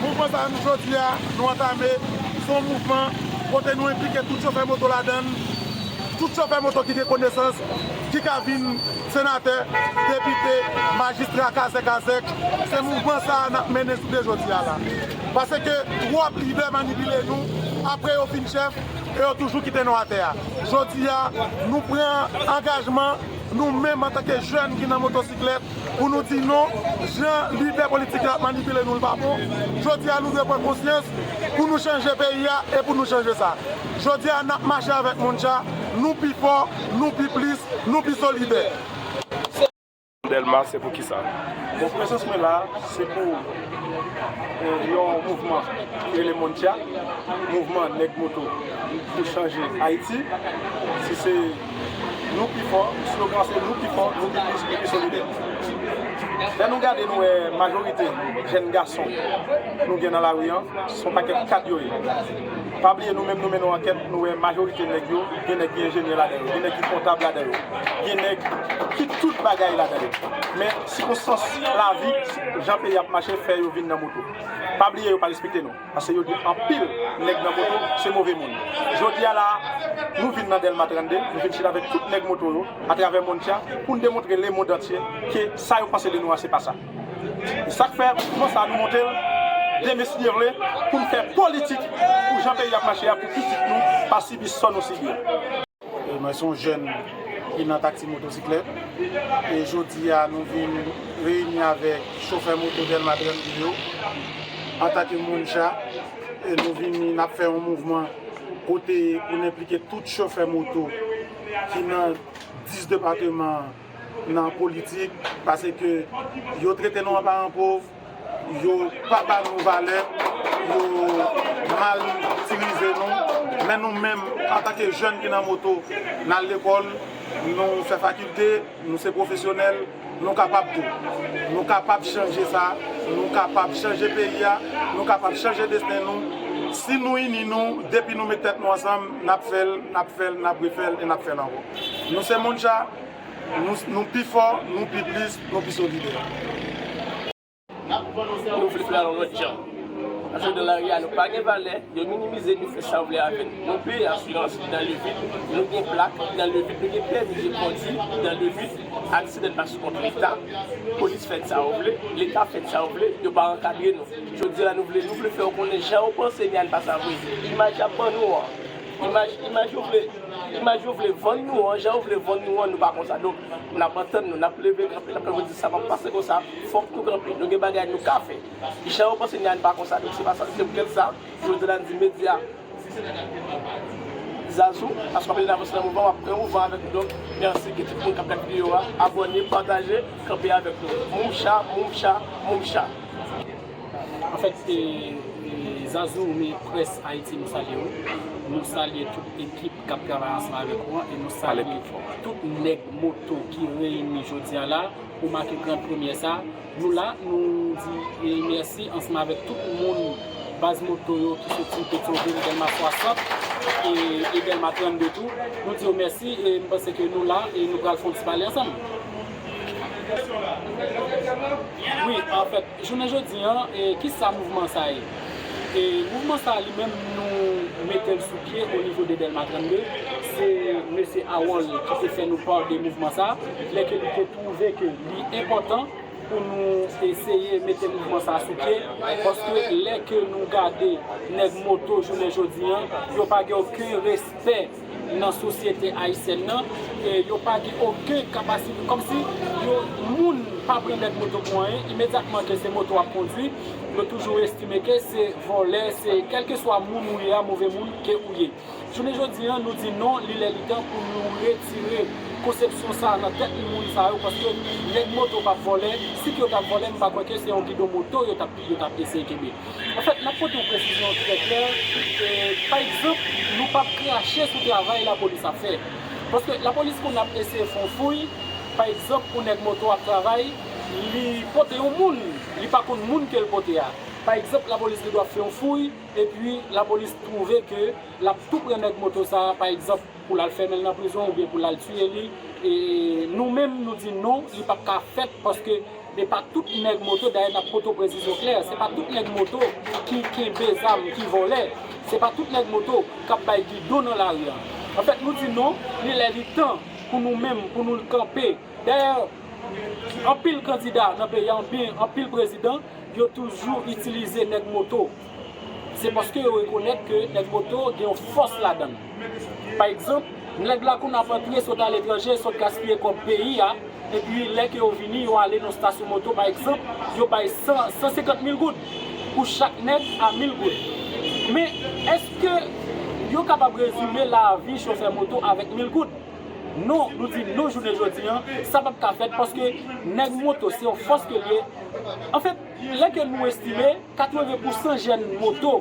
Mouvman sa nou jodi a nou antame se yon mouvman kote nou enplike tout chofè moto ladann, tout chofè moto ki gen konesans ki ka vin senatè, depite, majistra, kazèk azèk, se mouvman sa a nap mennen jounen jodi a la. Paske twòp lidè manipile nou, aprè yo fin chèf e yo toujou kite nou atè a. Jodi a nou pran angajman. Nou menm antanke jèn ki nan motosiklèt pou nou di non, jan lidè politik yo ap manipile nou l pa bon. Jodi a nou dwe pran konsyans pou nou chanje peyi a e pou nou chanje sa. Jodi a n ap mache avèk Mondja, nou pi fò, nou pi plis, nou pi solidè. Delmas se pou kisa? Bon prezans mwen la se pou yon mouvman ki rele Mondja, mouvman nèg moto pou chanje Ayiti. Si se. Nou pi fò, slogan an se nou pi fò, nou pi plis, nou pi solidè. Lè nou gade nou wè majorite jèn gason nou gen nan lari an, se yon pakèt kad yo ye. Pa bliye nou menm nou mennen yon ankèt, nou wè majorite nèg yo, gen nèg ki enjenyè ladan yo, gen nèg ki kontab ladan yo, gen nèg ki tout bagay ladan yo. Men sikonstans lavi, jan peyi a ap mache fè yo vin nan moto. Pa bliye yo pa respekte nou. Pase yo di anpil nèg nan moto se move moun. Jodi a la a, nou vin nan Dèlma 32, nou vin chita avèk tout nèg moto yo atravè mond tya pou n demontre lemond antye ke sa yo panse de nou a se pa sa. E sa k fè mouvman sa a nou monte l demestirle pou n fè politik pou jan peyi a ap mache a pou pitit nou pa sibi sò nou sibi a. Mwen son jèn ki nan taksi motosiklèt e jodi a nou vin reyini avèk chofè moto Dèlma 32 yo antake moun cha e nou vini nap fè yon mouvman kote pou n enplike tout chofè moto ki nan 10 depateman nan politik pase ke yo trete nou an paran pov. Yo pa ba nou valè, yo mal itilize nou, men nou menm antanke jèn ki nan moto, n al lekòl, nou fè fakilte, nou se pwofesyonèl, nou kapab tou. Nou kapab chanje sa, nou kapab chanje peyi a, nou kapab chanje desten nou, si nou ini nou, depi nou met tèt nou ansanm, n ap fè l, n ap fè l, n ap refè l e n ap fè l ankò. Nou se Mouncha. Nou pi fò, nou pi plis, nou pi solidè. Nou vle fè l yon lòt jan. Paske nan lari a nou pa gen valè, yo minimize nou, fè sa yo vle avè nou. Nou peye asirans ki nan levit, nou gen plak ki nan levit, nou gen pèmi de kondwi ki nan levit, aksidan pa sou kont Leta, polis fè sa yo vle, Leta fè sa yo vle, yo pa ankadre nou. Jodi a nou vle, nou vle fè yo konnen jan yo panse ni a n pa sa vre. Imaj y ap ban nou an. Imaj imaj yo vle imaj yo vle vann nou an jan yo vle vann nou an nou pa konsa donk nap antann nou nap leve kanpe nap kanpe nou di sa pap pase konsa fòk nou kanpe nou gen bagay nou ka fè jan yo panse nyan pa konsa donk se pa sa se pou tèt sa jodi la nou di medya zazou paske wap andedan avanse nan mouvman wap pran yon van avèk nou donk merci gen tout moun kap gad videyo a abòne pataje kanpe avèk nou mumcha mumcha mumcha. An fèt se Zazou mi près Ayiti nou salye ou, nou salye tout ekip kap travay ansanm avèk ou an e nou salye tout nèg moto ki reyini jodi an la pou make gran premyè sa, nou la nou di mèsi ansanm avèk tout moun baz moto yo ki soti Petyonvil, Dèlma 60 e Dèlma 32 tou, nou di yo mèsi e m panse ke nou la e nou pral fon ti pale ansanm. Wi an fèt. Jounen jodi an, ki sa mouvman sa ye? Mouvman sa li menm nou mete l sou pye o nivo de Dèlma 32, se Mesye Harold ki te fè nou pàn de mouvman sa, lè ke li te twouve ke li enpòtan pou nou eseye mete mouvman sa sou pye, paske lè ke nou gade nèg moto jounen jodi an, yo pa gen oken respè. nan sosyete ayisyèn nan e yo pa gen oken kapasite kòmsi yo moun pa pran lèt moto pou anyen imedyatman ke se moto wap kondwi yo toujou estime ke se vòlè se kèlkeswa moun ou ye a move moun ke ou ye jounen jodi an nou di non li lè li tan pou nou retire konsepsyon sa nan tèt moun sa yo paske nèg moto pap vòlè si ke yo tap vòlè m pa kwè ke se yon gidon moto yo tap eseye kenbe. Anfèt, n ap pote yon presizyon trè klè, pa egzanp, nou pa p krache sou travay lapolis ap fè. Paske lapolis konn ap eseye fè yon fouy, pa egzanp, yon nèg moto ap travay, li pote yon moun, li pa konn moun ke l pote a. Pa egzanp, lapolis gen dwa fè yon fouy, epi lapolis twouve ke l ap tou pran nèg moto sa a, pa egzanp. pou lal fèmenl nan prizon oubyen pou lal tiye li e nou menm nou di non li pap ka fèt paske epa tout nèg moto dayè nap poto prezizyon klè se pa tout nèg moto ki kenbe zam ki vòlè se pa tout nèg moto kap bay gidon nan lari an anfèt nou di non li lè li tan pou nou menm pou nou kanpe dayè anpil kandida nan peyi an oubyen anpil prezidan yo toujou itilize nèg moto. Se paske yo rekonèt ke El Moto gen yon fòs ladan l. Pa egzanp, nèg la kou n ap antre sot aletranje, sot gaspiye kòb peyi a, epi lè ke yo vini, yo ale nan stasyon moto pa egzanp, yo bay 100, 150 mil goud pou chak nèg a mil goud. Men, èske yo kapab rezime lavi chofè moto avèk mil goud? Non, nou di non jounen jodi an, sa p ap ka fèt paske nèg moto se yon fòs ke l ye. Anfèt, lè ke nou estime. 80 pou san jèn moto,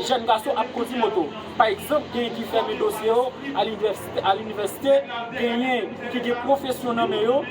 jèn gason ap kondwi moto. Pa egzanp, genyen ki fèmen dosye yo a linivèsite, genyen ki gen pwofesyon nan men yo,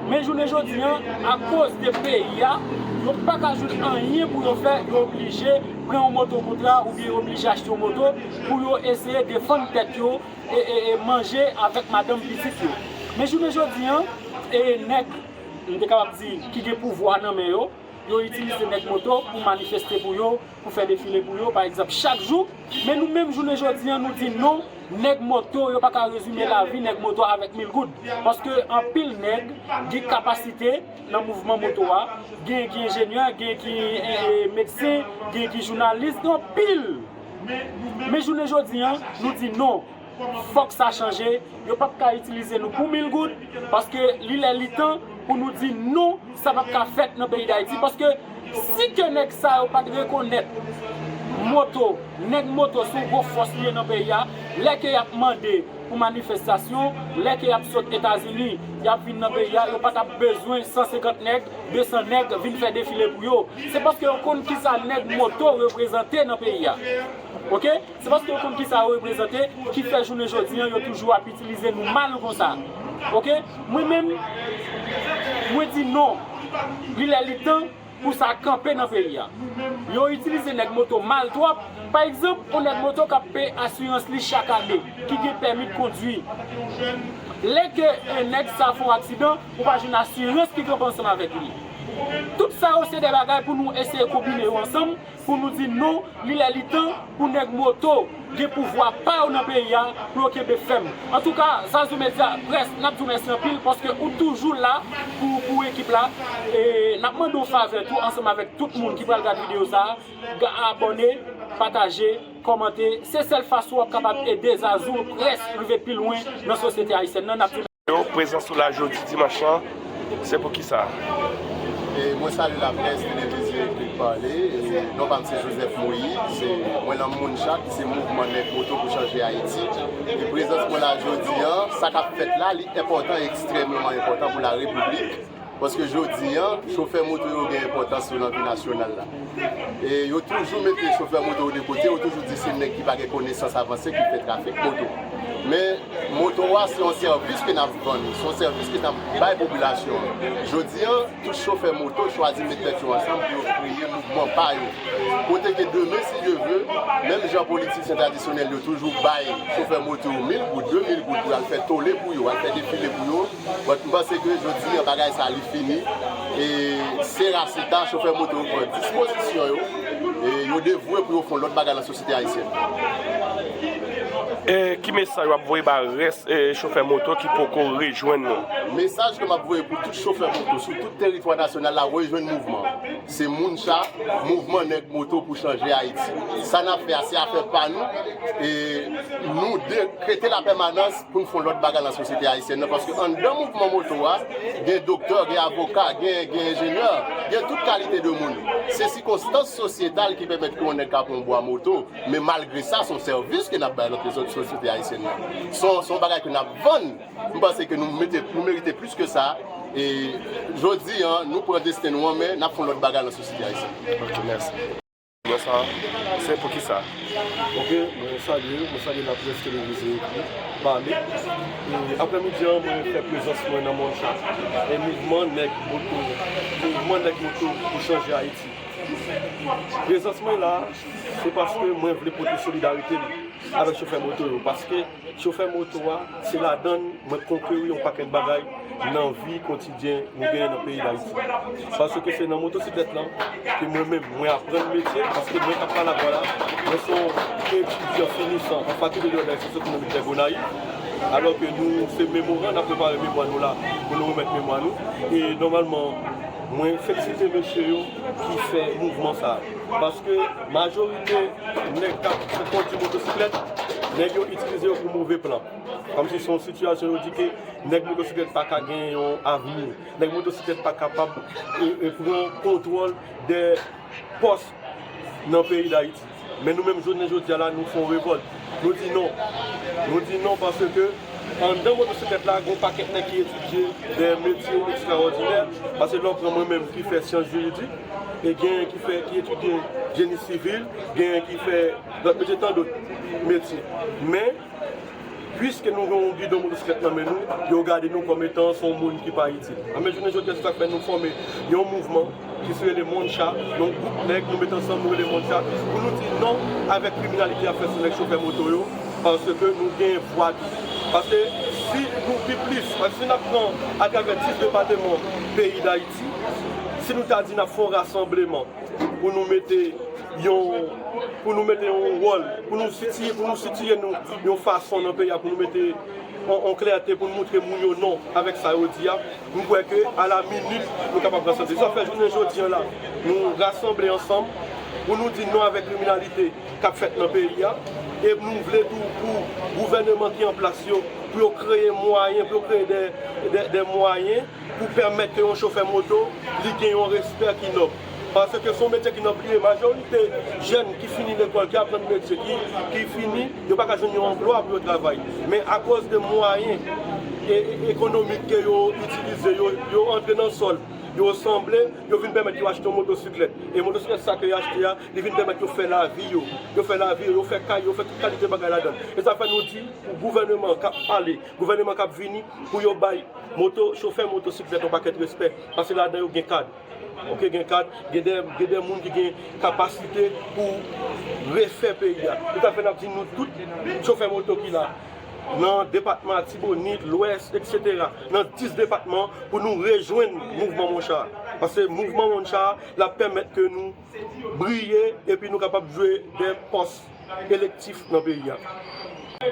men jounen jodi an, akoz de peyi a, yo pa ka jwenn anyen pou yo fè, yo oblije pran yon moto wout la oubyen yo oblije achte yon moto pou yo eseye defann tèt yo e manje avèk madanm pitit yo. Men jounen jodi an, nèg, m te kapab di, ki gen pouvwa nan men yo, Yo itilize nèg moto pou manifeste pou yo, pou fè defile pou yo, pa egzanp, chak jou, men nou menm jounen jodi an nou di non, nèg moto yo pa ka rezime lavi nèg moto avèk mil goud. Paske anpil nèg gen kapasite nan mouvman moto a, gen ki enjenyè, gen ki medsen, gen ki jounalis, gen anpil. Men jounen jodi an, nou di non. Fòk sa chanje, yo pap ka itilize nou pou mil goud, paske li lè li tan pou nou di non sa pap ka fèt nan peyi dayiti, paske si ke nèg sa yo pat rekonèt moto, nèg moto son gwo fòs li ye nan peyi a, lè ke yap mande pou manifestasyon, lè ke yap sot etazini yap vin nan peyi a, yo pa tap bezwen 150 nèg, 200 nèg vin fè defile pou yo, se paske yo konn kisa nèg moto reprezante nan peyi a, ok. Se paske yo konn kisa yo reprezante ki fè jounen jodi an yo toujou ap itilize nou mal konsa ok mwen menm mwen di non li lè li tan pou sa kanpe nan peyi a yo itilize nèg moto mal twòp pa egzanp on nèg moto kap peye asirans li chak ane ki gen pèmi kondwi lè ke on nèg sa fon aksidan ou pa jwenn asirans ki kanpe ansanm avèk li tout sa yo se de bagay pou nou eseye konbine yo ansanm. Pou nou di non, li lè li tan pou nèg moto gen pouvwa pa yo nan peyi a pou yo kenbe fèm. Antouka Zazou Media Press nap di w mèsi anpil paske ou toujou la pou ekip la e nap mande w favè tou ansanm avèk tout moun ki pral gad videyo sa a abòne, pataje. Kòmante, Se sèl fason wap kapab ede Zazou Press rive pi lwen nan sosyete ayisyèn nan, nap di. Yo prezan sou la jodi dimanch lan, se pou kisa? Mwen salye laprès televizyon epi pale, non pa m se Joseph Moïse, mwen nan MONJA ki se Mouvman Nèg Moto pou Chanje Ayiti, e prezans mwen la jodi an, sa k ap fèt la li enpòtan, ekstrèmeman enpòtan pou la repiblik. Paske jodi an, chofè moto yo gen enpòtans yo nan vi nasyonal la. E yo toujou mete chofè moto yo de kote, yo toujou di se nèg ki pa gen konesans avanse ki fè trafik moto. Men, moto a se yon sèvis ke n ap vann, se yon sèvis ke n ap bay popilasyon an. Jodi an, tout chofè moto chwazi met tèt yo ansanm pou yo kreye mouvman pa yo. Kote ke demen, si Dye ve, menm jan politisyen tradisyonèl yo toujou bay chofè moto yo mil goud, de mil goud pou yo al fè tole pou yo, al fè defile pou yo, But m panse ke jodi an bagay sa li fini e se Racita chofè moto yo pran dispozisyon yo e yo devwe pou yo fon lòt bagay nan sosyete ayisyèn. E ki mesaj wap voye ba rès chofè moto ki poko rejwenn nou? Mesaj ke map voye pou tout chofè moto sou tout teritwa nasyonal la rejwenn mouvman an. Se moun sa, mouvman nèg moto pou chanje Ayiti. Sa n ap fè a se afè pa nou e nou dekrete la pèmanans pou n fè yon lòt bagay nan sosyete ayisyèn nan paske anndan mouvman moto a gen doktè, gen avoka, gen enjenyè, gen tout kalite de moun. Se sikonstans sosyetal ki pèmèt ke yon nèg ka pran yon bwa moto men malgre sa se yon sèvis ke n ap bay nan sosyete ayisyèn nan. Se yon bagay ke n ap vann. M panse ke nou merite plis ke sa e jodi a nou pran desten nou an men n ap fè yon lòt bagay lan sosyete ayisyèn. Ok mèsi. Bonswa, se pou kisa? Ok, mwen salye ou, mwen salye laprès televize yo ki pale. E aprè midi an mwen fè prezans mwen nan mòn sa. E mouvman nèg moto, mouvman nèg moto pou chanje Ayiti. Prezans mwen la, se paske mwen vle pote solidarite m avèk chofè moto yo paske. Chofè moto a, se ladann mwen konkeri yon pakèt bagay nan vi kotidyen nou genyen nan peyi Dayiti. Paske se nan motosiklèt lan ke mwen menm mwen aprann metye, paske mwen kap pale ak ou a la, mwen se yon etidyan finisan an fakilte de òganizasyon sosyokonomik dè Gonayiv, alò ke nou se memoran, nap prepare memwa nou la pou nou remèt memwa nou, e nòmalman mwen felisite mesye yo. ki fè mouvman sa paske majorite nèg kap kondi motosiklèt nèg yo itilize yo pou move plan kòmsi son sitiyasyon yo di ke nèg motosiklèt pa ka gen yon avni nèg motosiklèt pa kapab pran kontwòl de pòs nan peyi dayiti. Men nou menm jounen jodi a la nou fè yon revòlt. Nou di non. Nou di non paske anndan motosiklèt la gen yon pakèt nèg ki etidye dè metye ekstrawòdinè. Paske lè w pran mwen menm ki fè syans jiridik e genyen ki fè, ki etidye jeni sivil, genyen ki fè lòt metye tandòt metye. Men. Puiske nou gen yon bidon motosiklèt nan men nou, yo gade nou kòm etan se yon moun ki pa itil. Anben, jounen jodi a se sa k fè nou fòme yon mouvman ki rele Moncha, yon gwoup nèg nou met ansanm nou rele Moncha, pou nou di non avèk kriminalite y ap fè sou nèg chofè moto yo, paske nou gen vwa tou. Paske si nou pi plis, paske si n ap pran atravè 10 depateman peyi Dayiti, si nou ta di n ap fè yon rasanbleman, pou nou mete yon, pou nou mete yon wòl, pou nou sitiye, pou nou sitiye nou yon fason nan peyi a, pou nou mete yon klète, pou nou montre moun yo non avèk sa yo di a, m kwè ke a la minit nou kapab rasanble. Sa fè jounen jodi an la, nou rasanble ansanm pou nou di non avèk kriminalite k ap fèt nan peyi a, e nou vle tou pou gouvèneman ki an plas yo, pou yo kreye mwayen, pou yo kreye de mwayen. pou pèmèt ke yon chofè moto li gen yon respè ki nòb. Paske se yon metye ki nòb li ye. Majorite jèn ki fini lekòl, ki aprann metye, ki fini, yo pa ka jwenn yon anplwa pou yo travay. Men akoz de mwayen ekonomik ke yo itilize, yo antre nan sòl, yo sanble, yo vin pèmèt yo achte yon motosiklèt. E motosiklèt sa ke yo achte a, li vin pèmèt yo fè lavi yo. Yo fè lavi yo, yo fè kay yo, yo fè tout kalite bagay ladan l. E sa fè nou di pou gouvèneman an kap pale, Gouvèneman kap vini pou yo bay moto chofè moto siklèt yon pakèt respè pase ladan yo gen kad ok gen kad gen dè gen dè moun ki gen kapasite pou refè peyi a tout afè nap di nou tout chofè moto ki la nan depatman atibonit lwès etc nan 10 depatman pou nou rejwenn mouvman moncha pase mouvman moncha lap pèmèt ke nou. briye epi nou kapab jwe de pòs elektif nan peyi a.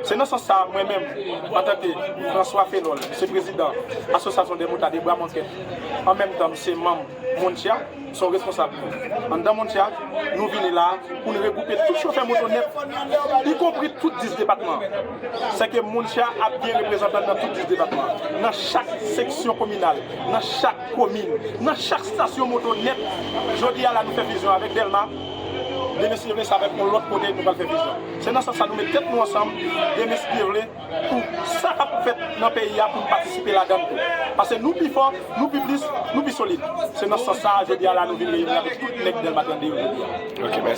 Se nan sans sa a mwen menm, antanke François Phénol, m se prezidan Association des Motards de Bramontet, an menm tan m se manm MONTIA, m se yon responsab anndan MONTIA, nou vini la a pou n regwoupe tout chofè moto nèt, ikonpri tout 10 depatman an. Sèke MONTIA ap gen reprezantan nan tout 10 depatman an, nan chak seksyon kominal, nan chak. komin nan chak stasyon moto nèt jodi a la nou fè fizyon avèk dèlma demestivle sa vèt yon lòt kote nou pral fè fizyon se nan sans sa nou met tèt nou ansanm demestivle pou sa kap fèt nan peyi a poun patisipe ladann tou pase nou pi fò nou pi plis nou pi solid se nan sans sa jodi a la nou vin reyini avèk tout nèg dèlma 32 yo jodi a.